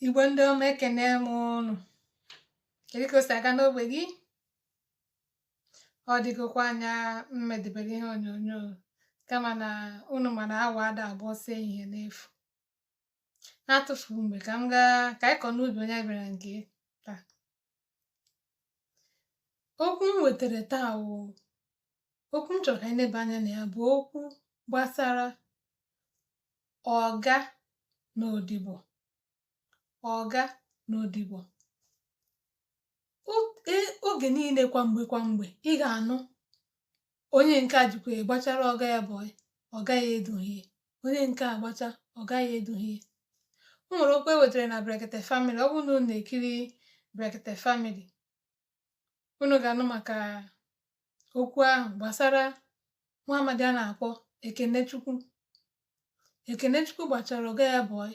igbo ndị ọma ekenee m unu kedu ka o si aga n'ogbe gị ọ dịgokwa anya m medebere ihe onyonyo kama na unu ma na awọ ada agba ọsọ ehihie n'efu na-atụfu mgbe ka m gaa ka anyị kọ n'ubi onye bịara nke taa okwu m wetara taa wụ okwu m chọrọ ka anyị neba anya na ya bụ okwu gbasara ọga na odibo ọga na odibo e, oge niile kwa mgbe kwa mgbe ị ga-anụ onye nke a jikwa gbachara ọga ya boy ọga ya edughị ya onye nke a gbachaa ọga ya edughị ya o nwere okwu e wetara na Brekete Family ọ bụrụ na unu na-ekiri Brekete Family unu ga-anụ maka okwu ahụ gbasara nwa amadi a na-akpọ Ekenechukwu Ekenechukwu gbachara ọga ya boy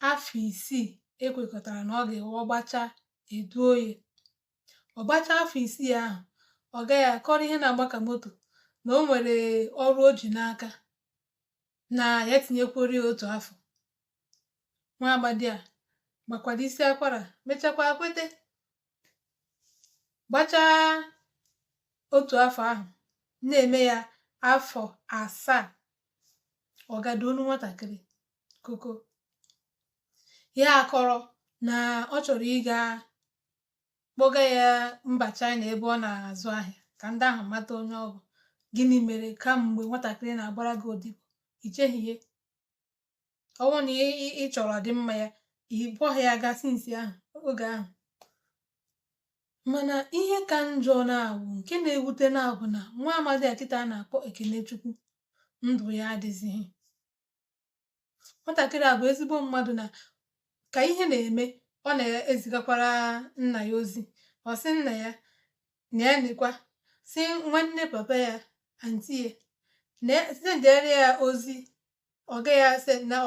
afọ isii e kwekọtara na ọ ga-awụ ọ gbachaa e duo ya ọ gbachaa afọ isii ahụ ọga ya akọrọ ihe na-agba ka moto na o nwere ọrụ o ji n'aka na ya tinyekwuoro ya otu afọ nwa amadi a gbakwara isi akwara mechakwa kwete gbachaa otu afọ ahụ na-eme ya afọ asaa ọga duo nụ nwatakịrị koko ya akọrọ na ọ chọrọ ịga kpọga ya mba China ebe ọ na-azụ ahịa ka ndị ahụ mata onye ọ bụ gịnị mere kamgbe nwatakịrị na-agbara gị odibo i cheghị ihe ọ wụ na ị chọrọ ọdịmma ya ị kpọghị ya gaa since ahụ oge ahụ mana ihe ka njọ na-awụ nke na-ewute na-abụ na nwa amadi a kịta a na-akpọ Ekenechukwu ndụ ya adịzighị nwatakịrị a bụ ezigbo mmadụ na ka ihe na-eme ọ na-ezigakwara nna ya ozi ọ sị nna ya na ya nekwa si nwanne papa ya anti ya na sendere ya ozi ọga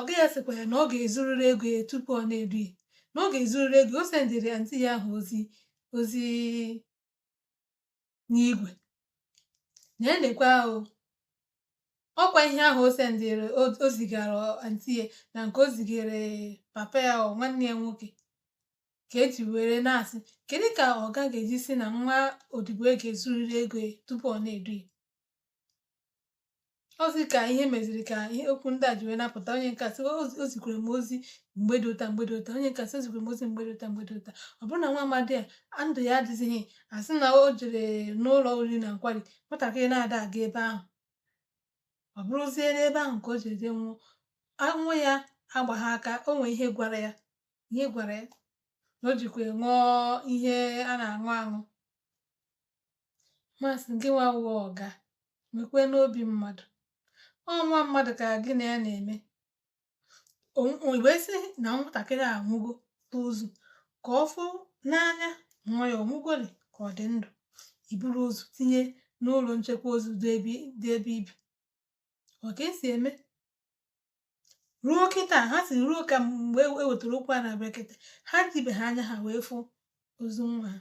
ọga ya sịkwa ya na ọ ga-ezurịrị ego ya tupu ọ na-edu ya na ọ ga-ezurịrị ego ya o sendịrị anti ya ahụ ozi ozi n'igwe na ya nekwa o ọkwa ihe ahụ o sendịrị o zigara anti ya na nke o zigara papa ya ọ nwanne ya nwoke ka e ji were na-asị kedu ka ọga ga-eji sị na nwa odibo ya ga-ezurịrị ego ya tupu ọ na-edu ya ozi ka ihe meziri ka ihe okwu ndị a ji wee na-apụta onye nke a sị o zikwere m ozi mgbe dị otu a mgbe dị otu a onye nke a sị o zikwere m ozi mgbe dị otu a ọ bụrụ na nwa amadi a ndụ ya adịzighị a sị na o jere n'ụlọ oriri na nkwari nwatakịrị na-ada aga ebe ahụ ọ bụrụzie n'ebe ahụ ka o jere jee nwụọ ọnwụ ya agbaghị aka o nwee ihe gwara ya ihe gwara ya na o jikwa ṅụọ ihe a na-aṅụ aṅụ ma sị gị nwa wụ ọga nwekwenụ obi mmadụ ọ nwa mmadụ ka gị na ya na-eme wee sị na nwatakịrị a nwụgo ozu ka ọ fụ n'anya nwa ya ọmụgwọrị ka ọ dị ndụ i buru ozu tinye n'ụlọ nchekwa ozu dị ebe i bi ọ ka e si eme ruo kịta ha sị ruo ka mgbe e wetara okwu a na Brekete ha jibeghị anya ha wee fụ ozu nwa ha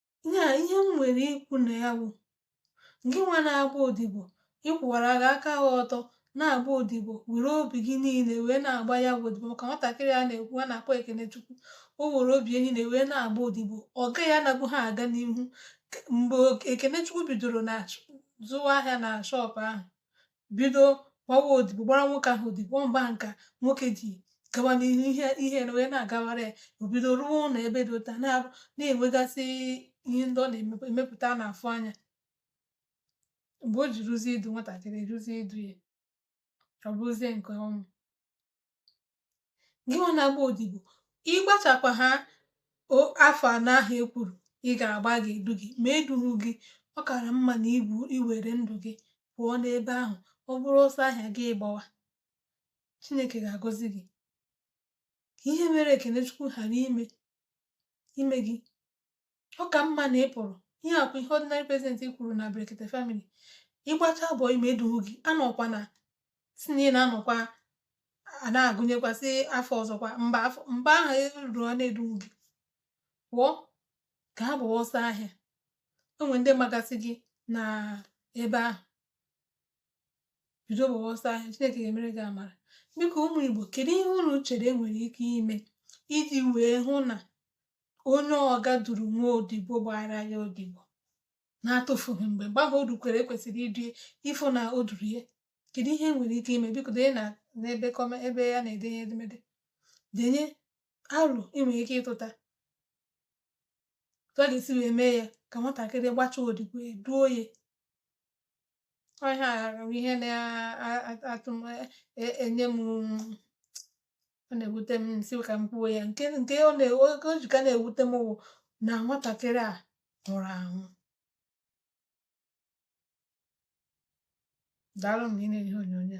ya ihe m nwere ikwu na ya bụ gị nwa na-agba odibo ị kwụwara gị aka gị ọtọ na-agba odibo were obi gị niile wee na-agba ya bụ odibo maka nwatakịrị a na-ekwu a na-akpọ Ekenechukwu o were obi ya niile wee na-agba odibo ọga ya anabụha aga n'ihu mgbe Ekenechukwu bidoro na zụwa ahịa na shọpụ ahụ bido gbawa odibo gbara nwoke ahụ odibo mgbe ahụ ka nwoke ji gawa n'ihu ihe wee na-agawara ya o bido rụwa ụlọ ebe dị otu a na na-enwegasị ihe ndị ọ na-emepụta na-afụ anya mgbe o ji ruzie idu nwatakịrị ruzie idu ya ọ bụrụzie nke ọnwụ gị nwa na-agba odibo ị gbachakwa ha afọ anọ ahụ e kwuru ị ga-agba ga-edu gị ma e dughị gị ọ kara mma na i were ndụ gị pụọ n'ebe ahụ ọ bụrụ ọsọ ahịa gị gbawa Chineke ga-agọzi gị ka ihe mere Ekenechukwu ghara ime ime gị ọ ka mma na ị pụrụ ihe a wụ ihe ordinary president kwuru na brekete family ị gbachaa boy ma e duhu gị anọkwana sị na ị na-anọkwa a na-agụnyekwasị afọ ọzọkwa mgbe ahụ eruru ọ na-eduhu gị pụọ gaa gbawa ọsọ ahịa o nwere ndị magasị gị n'ebe ahụ bido gbawa ọsọ ahịa chineke ga-emere gị amara biko ụmụ igbo kedu ihe unu chere e nwere ike ime iji wee hụ na onye ọga duru nwa odibo gbara ya odibo na-atụfughị mgbe mgbe ahụ o rukwere e kwesịrị idu ya ịfụ na o duru ya kedu ihe e nwere ike ime biko denye na n'ebe comment ebe a na-edenye edemede denye aro i nwere ike ịtụta otu a ga-esi wee mee ya ka nwatakịrị gbachaa odibo e duo ya ọhịa ihe na-atụ m e, e, enye m ọ na-ewute m si ka m kwuo ya nke nke ọ na-oge o ji ka na-ewute m wụ na nwatakịrị a nwụrụ anwụ daalụ m na ị na-enye ihe onyonyo